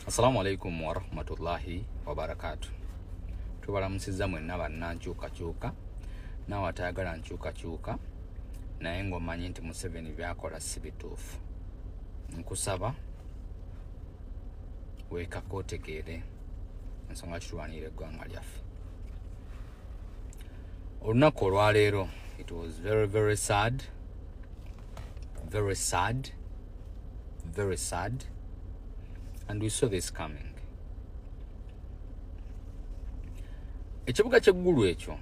assalamu alaikum warahmatullahi wabarakatu tubalamusiza mwenna bannankyukakyuka naawe atayagala nkyukakyuka naye ngaomanyi nti museveni byakola si bituufu nkusaba weekaka otegeere ensonga kitulwanira eggwanga lyaffe olunaku olwaleero it was very very sad very sad very sad and we saw this coming ekibuga kyeggulu ekyo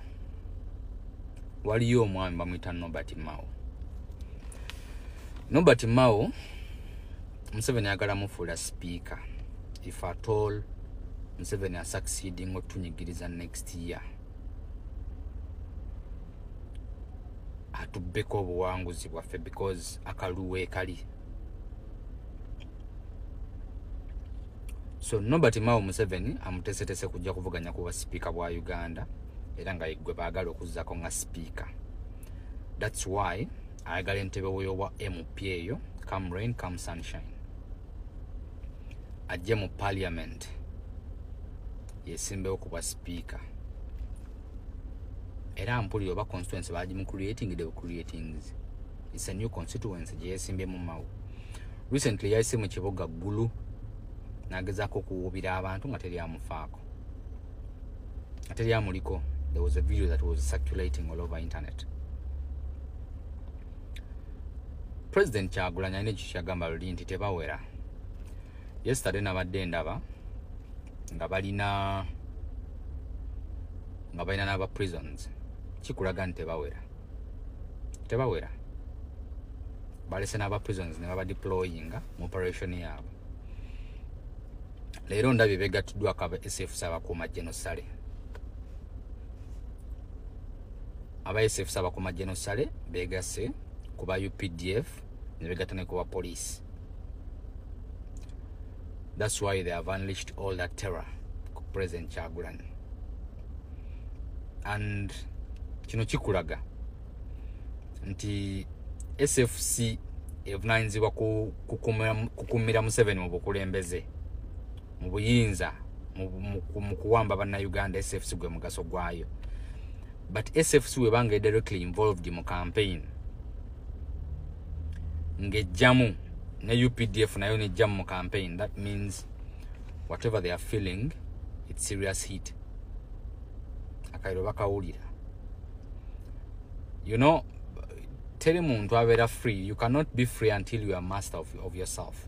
waliyo omwami bamuyita nobert mao nobert mao museveni ayagala mufuula sipiika if at all museveni asucceeding otunyigiriza next year atubbeko obuwanguzi bwaffe because akaluwe kali so nobert mao museveni amutesetese kujja kuvuganya kuba sipiika bwa uganda era nga yegwe baagala okuzzako nga sipiika thats why ayagala entebe weyowa mp eyo come rain come sunshine ajje mu parliament yesimbewo kubwa sipiika era mpulira oba constituency bagimu creating the creatings its a new constituency gyeyesimbemu mawo recently yayise mu kibuga ggulu nagezaako okuwuubira abantu nga teri amufaako nga teri amuliko there was a video that was circulating all over internet president kyagulanya alina ekyo kyagamba luli nti tebawera yesterday nabadde ndaba nga balina nga balina n'aba prisons kikulaga nti tebawera tebawera balese n'aba prisons ne baba deployinga mu operation yaabwe leero ndabye begattiddwako aba sfs abakuuma genosale aba sf saba ku majje no sale begase ku ba updf ne begata ne ku ba police that's why they have unleashed all that terror ku president chagulan and kino kikulaga nti sfc evunanyizibwa kukumira museveni mu bukulembeze mu buyinza mu kuwamba bannayuganda sfc gwe mugaso gwayo but sfc webanga directly involved mu campaign ngejjamu ne updf nayo nejjamu mu campaign that means whatever they are feeling its serious heat akairo bakawulira you know teri muntu abeera free you cannot be free until you are master of, of yourself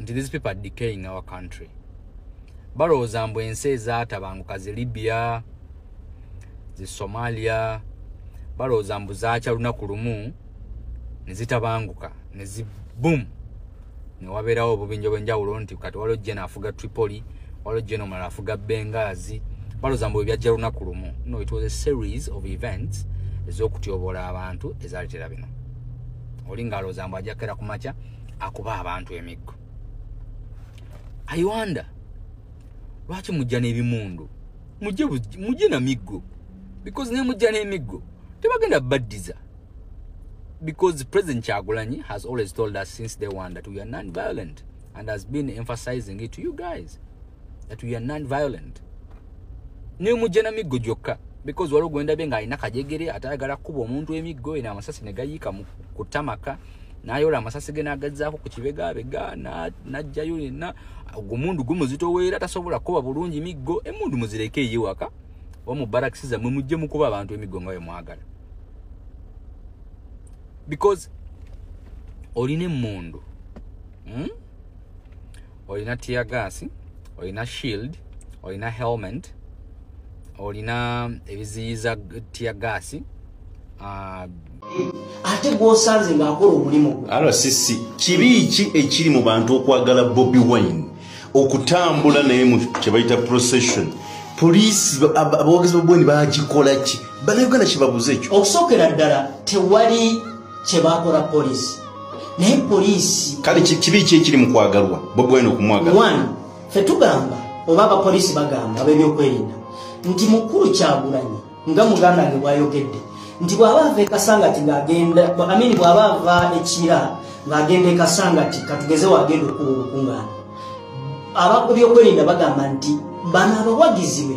nti these people are decaying our country balowooza mbu ensi ezatabanguka zi libya zi somalia balowooza mbu zakya lunaku lumu nezitabanguka nezi boom newabeerawo obubinja obwenjawulo nti kati waliwo jena afuga tripoli waliwo jena omulala afuga bengazi balowooza mbu ebyajja lunaku lumu no it was a series of events ez'okutyobola abantu ezaletera bino oli ng'alowooza mbu ajja kukera ku makya akuba abantu emiggo ayiwanda lwaki mujja n'ebimundu mujje na miggo because naye mujja n'emiggo tebagenda baddiza because president kyagulanyi has always told us since day one that we are non-violent and has been emphasizing it to you guys that we are non violent nemujja na miggo gyokka because waliwo gwendabye nga alina kajegere ate ayagala kukuba omuntu emiggo eno amasasi negayiika ku tamaka nayola amasasi ge nagazaako ku kibegabega najjayo yenna omundu gumuzitoweera tasobola kukuba bulungi miggo emundu muzireke eyiwaka oba mu barakisi zammwe mujje mukuba abantu emiggo nga bemwagala because olina emundu hmm? olina tear gas olina shield olina helmet olina ebiziyiza tear gas uh, ate gwosanze ngaakola omulimu rcc kibi ki ekiri mu bantu okwagala bobi wine okutambula naye mu kyebayita procession poliisi abawagezi babweni bagikola ki banauganda kyebabuze ekyo okusookera ddala tewali kyebakola poliisi naye poliisi kale kibi ki ekiri mu kwagalwa bobwena okumwagala fe tugamba oba abapoliisi bagamba abebyokwerinda nti mukulu kyagulanyi nga muganda nge bwayogedde nti bwaba ava ekasangati ngaagenda amini bwaba ava ekira ngaagenda ekasangati katugeze wagenda okuba obukungaana ababyokwerinda bagamba nti bano abawagiziwe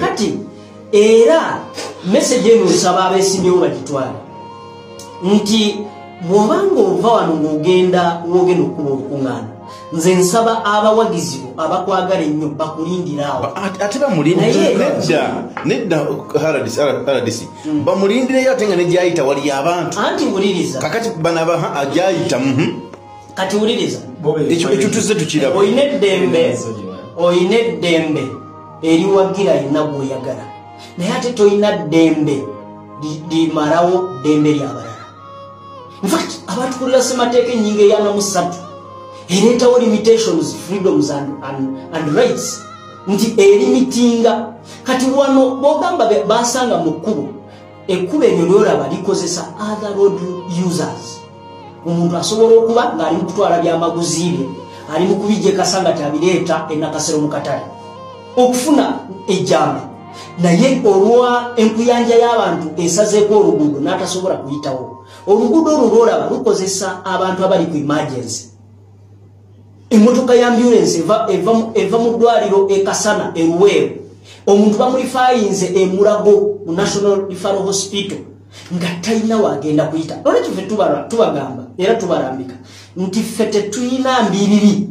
kati era message eno nsaba abesimyewo bagitwale nti bwobanga ova wano ng'ogenda wogenda okukuba olukuŋŋaana nze nsaba abawagizi bo abakwagala ennyo bakulindiraawoate bamulindireneddaneddardc hmm. bamulindireyo ate nga negyayita wali abantu anti wuliriza kakati banabaha agyayita mhm. kati wuliriza ekyo tuzze tukiraba olina eddembe olina eddembe eriwagira yenna gwoyagala naye ate tolina ddembe limarawo ddembe lyabalala infact abantu kulira semateeka enyinga eyana musatu ereetawo limitations freedoms and, and, and rights nti erimitinga kati wano bogamba basanga mu kkubo ekkubo eryo lyolaba likozesa other road users omuntu asobola okuba ng'ali mukutwala byamaguzi bye ali mukubijekasa nga kyabireeta enakasero mu katale okufuna ejjambe naye olwa enkuyanja y'abantu esazeeko oluguudo n'atasobola kuyitawo oluguudo olwo lwolaba lukozesa abantu abali ku imagensi emotoka ya ambulance eva, eva, eva mu ddwaliro ekasana eruweeru omuntu bamulifayinze emulago mu national referal hospital nga talina wagenda kuyita olwekyo fe tubagamba era tubalambika nti ffe tetulina mbiriri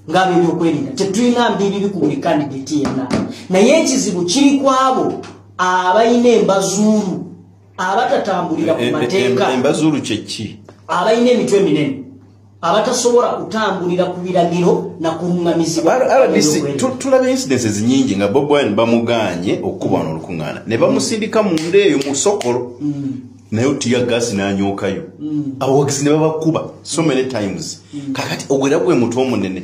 ngaabebyokwerinda tetulina mbiriri ku buli kandidati yenna naye ekizibu kiri kwabo abalina embazuulu abatatambulira ku eh, eh, eh, mateeka embazuulu kyeki abalina emitwe eminene abatasobola kutambulira ku biragiro na kuŋŋamizibwatulaba incidences nyingi nga bob wine bamugaanye okukubana olukuŋŋaana ne bamusindika mu nda eyo mu sokolo mm. naye otiya gasi nanyookayo mm. abawagisi ne babakuba so many times mm. kakati ogwera gwe mutu omunene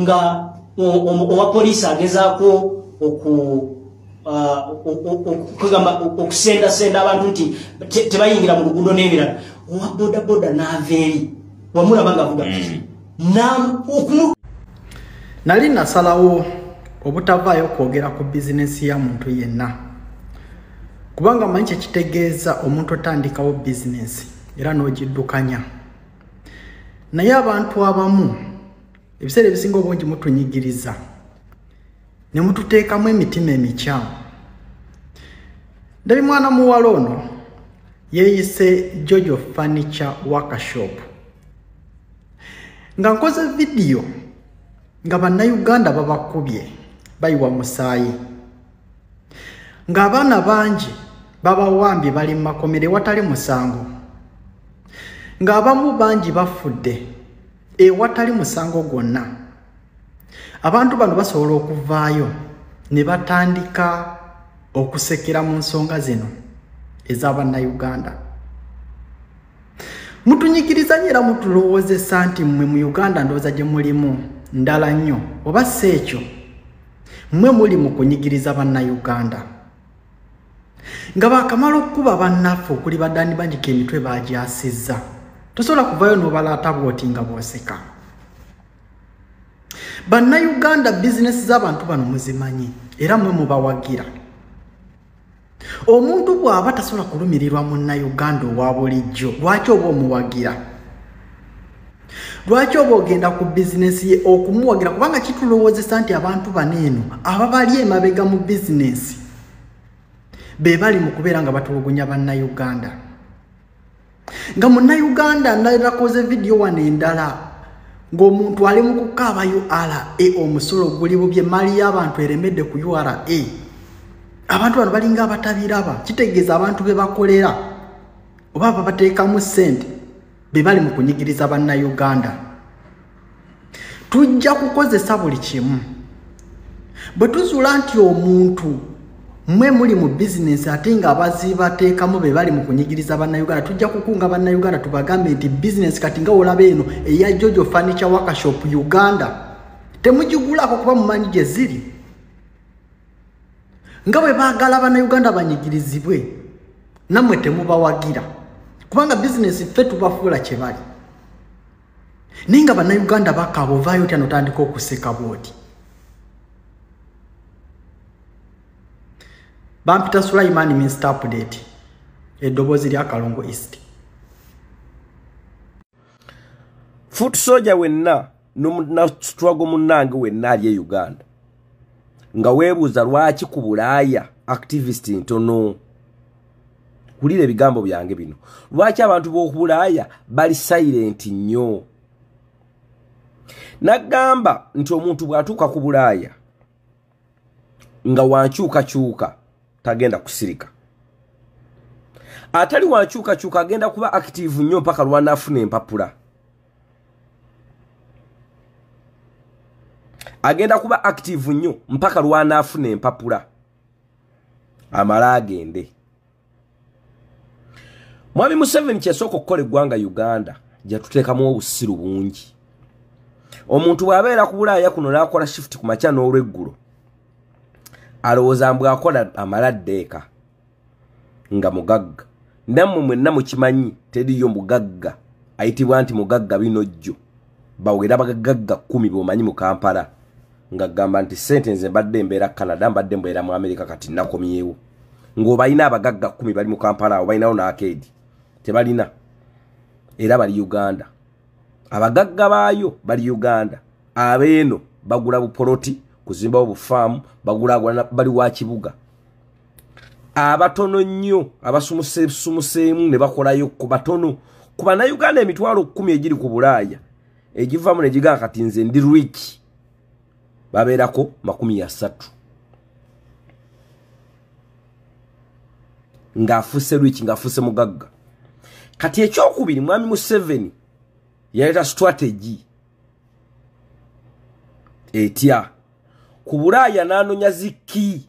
nga owa poliisi agezaako oku kwegamba okusendasenda abantu nti tebayingira mu luguudo n'ebirala owa bodaboda n'ava eri wamulaba nga avuga mm. nali nasalawo obutavaayo kwogera ku bizinesi ya muntu yenna kubanga manyi kyekitegeeza omuntu otandikawo bizinesi era n'ogiddukanya naye abantu abamu ebiseera ebisinga obungi mutunyigiriza ne mututeekamu emitima emikyamu ndabi mwana muwala ono yeeyise jojo furniture workshop nga nkoze vidiyo nga bannayuganda babakubye bayiwa musaayi ng'abaana bangi babawambye bali mu makomera ewatali musango ng'abamu bangi bafudde ewatali musango gwonna abantu bano basobola okuvaayo ne batandika okusekera mu nsonga zino eza bannayuganda mutunyigiriza nyo era mutulowoozesa nti mmwe mu uganda ndowooza gye mulimu ndala nnyo oba si ekyo mwe muli mu kunyigiriza bannayuganda nga baakamala okukuba bannaffe okuli badani banyika emitwe bagyasizza tosobola kuvayo n'obalaata bwoti nga bwoseka bannayuganda bizinesi z'abantu bano muzimanyi era mwe mubawagira omuntu bw'aba tasobola kulumirirwa munnayuganda owa bulijjo lwaki oba omuwagira lwaki oba ogenda ku bizinesi ye okumuwagira kubanga kitulowoozesa nti abantu bano eno ababali emabega mu bizinesi be bali mu kubeera nga batulugunya bannayuganda nga munnayuganda nalakoze vidiyo wano endala ng'omuntu ali mu kukaaba ura omusolo guli bubye mali y'abantu eremedde ku ura abantu bano balinga abatabiraba kitegeeza abantu be bakolera oba babateekamu ssente be bali mu kunyigiriza bannayuganda tujja kukozesa buli kimu bwe tuzuula nti omuntu mwe muli mu bizinensi ate nga abazibateekamu be bali mu kunyigiriza bannayuganda tujja kukunga bannayuganda tubagambe nti bizinensi kati nga olaba eno eya jojo furniture workshop uganda temugigulako kuba mumanyi gye ziri nga bwe baagala bannayuganda banyigirizibwe nammwe temubawagira kubanga bizinensi ffe tubafuula kye bali naye nga bannayuganda bakaaba ovaayo otya notandika okuseka bwoti bampita sulaiman minst update eddoboozi lya kalongo east foot soja wenna nomunasitwago munnange wenna ali e uganda nga weebuuza lwaki ku bulaaya activist ntono wulira ebigambo byange bino lwaki abantu b'okubulaaya bali sayirenti nnyo nagamba nti omuntu bw'atuuka ku bulaaya nga wankyukakyuka tagenda kusirika atali wankyukakyuka agenda kuba akitiivu nnyo mpaka lwanaafuna empapula agenda kuba akitiivu nnyo mpaka lwanaafuna empapula amala agende mwami museveni kyesooka okukola eggwanga uganda jatuteekamu obusiru bungi omuntu bw'abeera ku bulaaya kuno n'akola shifuti ku makya n'olweggulo alowooza mbu akola amala ddeeka nga mugagga nammwe mwenna mukimanyi teriyo mugagga ayitibwa nti mugagga bino jjo bawera bagagagga kkumi b'omanyi mu kampala nga gamba nti sente nze mbadde mbeera canada mbadde mbeera mu america kati nakomyewo ng'obalina abagagga kumi bali mu kampala awo balinawo naakeedi tebalina era bali uganda abagagga baayo bali uganda abeeno bagula bupoloti kuzimbawo bufaamu bagulagula bali wa kibuga abatono nnyo abasumusesumuseemu ne bakolayo ku batono ku bannayuganda emitwalo kkumi egiri ku bulaaya egivamu negigaa kati nze ndi rich babeerako makumi ya satu ng'afuuse rich ng'afuuse mugagga kati ekyokubiri mwami museveni yaleeta strategy etya ku bulaaya n'anonya zikki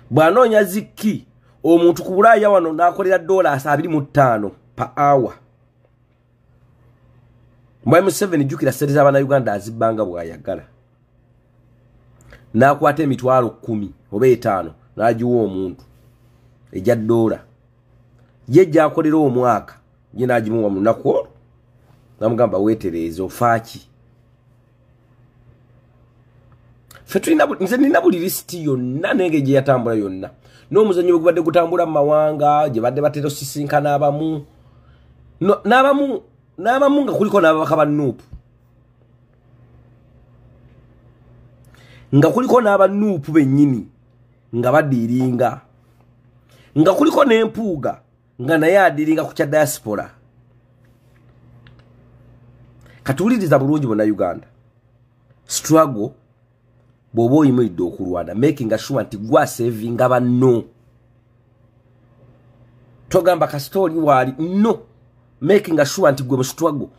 bwanoonya zikki omuntu ku bulaaya wano nakolera dola asa abiri mu ttaano pa awa mwayi museveni jjukira sente z'abanauganda azibbanga bw'ayagala n'akwata emitwalo kkumi oba etaano n'agiwa omuntu egya doola ye gyakolera omwaka ye n'agimuwa mu lunaku olwo namugamba weetereeza ofaaki nze nina buli lisiti yonna nenge gye yatambula yonna n'omuzannyo gwegubadde gutambula mu mawanga gye badde batera osisinkana abamu n'abamu n'abamu nga kuliko n'ababaka ba nuupu nga kuliko n'aba nuupu bennyini nga badiiringa nga kuliko n'empuuga nga naye adiringa ku kya diaspora katuwuliriza bulungi bona uganda struggle bwoba oyimiridde okulwana making sure nti gwasevinga banno togamba kasita oli waali no making sure nti gwe musitwago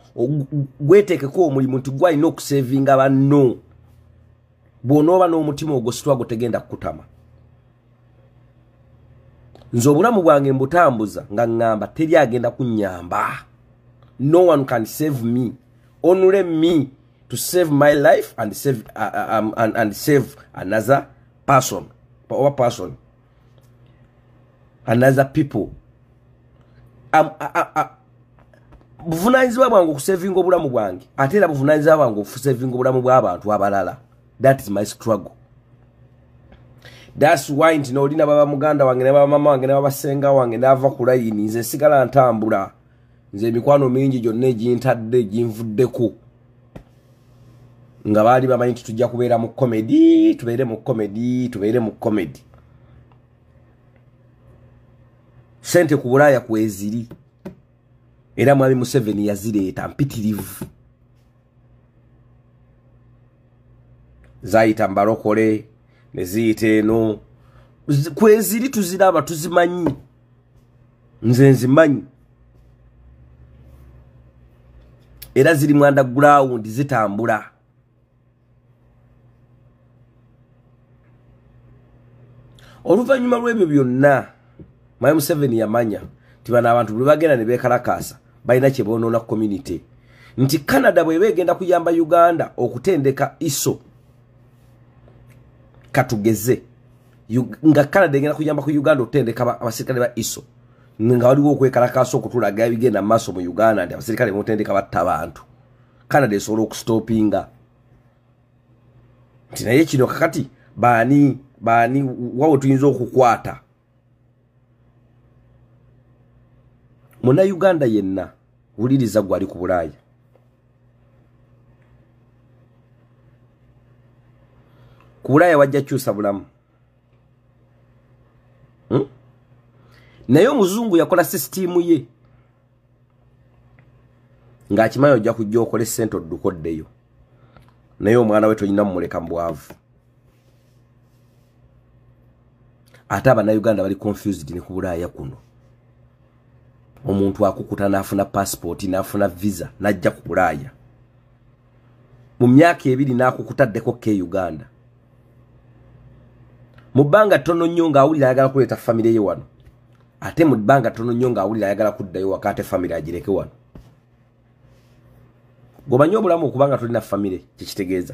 gweteekeko omulimu nti gwalina okusevinga banno bwonooba n'omutima ogwo sitwago tegenda kukutama nze obulamu bwange mbutambuza nga ŋŋamba teri agenda kunnyamba no one can save me onule me to save my life and save, uh, uh um, and, and save another person oba person another people um, uh, uh, uh, buvunanyizibwa bwange okusevinga obulamu bwange ate era buvunanyizibwa bwange okusevinga obulamu bw'abantu abalala that is my struggle thats why nti noli nababa muganda wange nababa mama wange nababa senga wange nava ku layini nze nsigala ntambula nze emikwano mingi gyonna egintadde ginvuddeko nga baali bamanyi nti tujja kubeera mu comedy tubeere mu comedy tubeere mu comedy sente ku bulaaya kweziri era mwami museveni yazireeta mpitirivu zayita mbalokole neziyita eno kweziri tuziraba tuzimanyi nze nzimanyi era ziri mwanda gulawundi zitambula oluvannyuma lw'ebyo byonna mayi museveni yamanya nti bano abantu buli bagenda ne beekalakaasa balina kye boonoona ku community nti canada bweba egenda kuyamba uganda okutendeka iso katugeze nga canada egenda kuyamba ku uganda okutendeka abaserikale ba iso nga waliwo okwekalakaasa okutulaga ebigenda mu maaso mu uganda nti abaserikale bamutendeka batta abantu canada esobola okustopinga nti naye kino kakati baani baani wawe tuyinza okukwata muna uganda yenna wuliriza gwe ali ku bulaaya ku bulaaya wajja kyusa bulamu hmm? naye omuzungu yakola sisitiimu ye ng'akimanyi ojja kujja okole ssente odduka oddeyo naye omwana we tolina mumuleka mu bwavu ate abanauganda bali confused ne ku bulaaya kuno omuntu akukuta n'afuna passipooti n'afuna visa n'ajja ku bulaaya mu myaka ebiri n'akukutaddeko ke uganda mu bbanga ttono nnyo ng'awulira ayagala kuleeta famire ye wano ate mu bbanga ttono nnyo ng'awulira ayagala kuddayo waka ate famire agireke wano gwomanyi obulamu okubanga tolina famire kyekitegeeza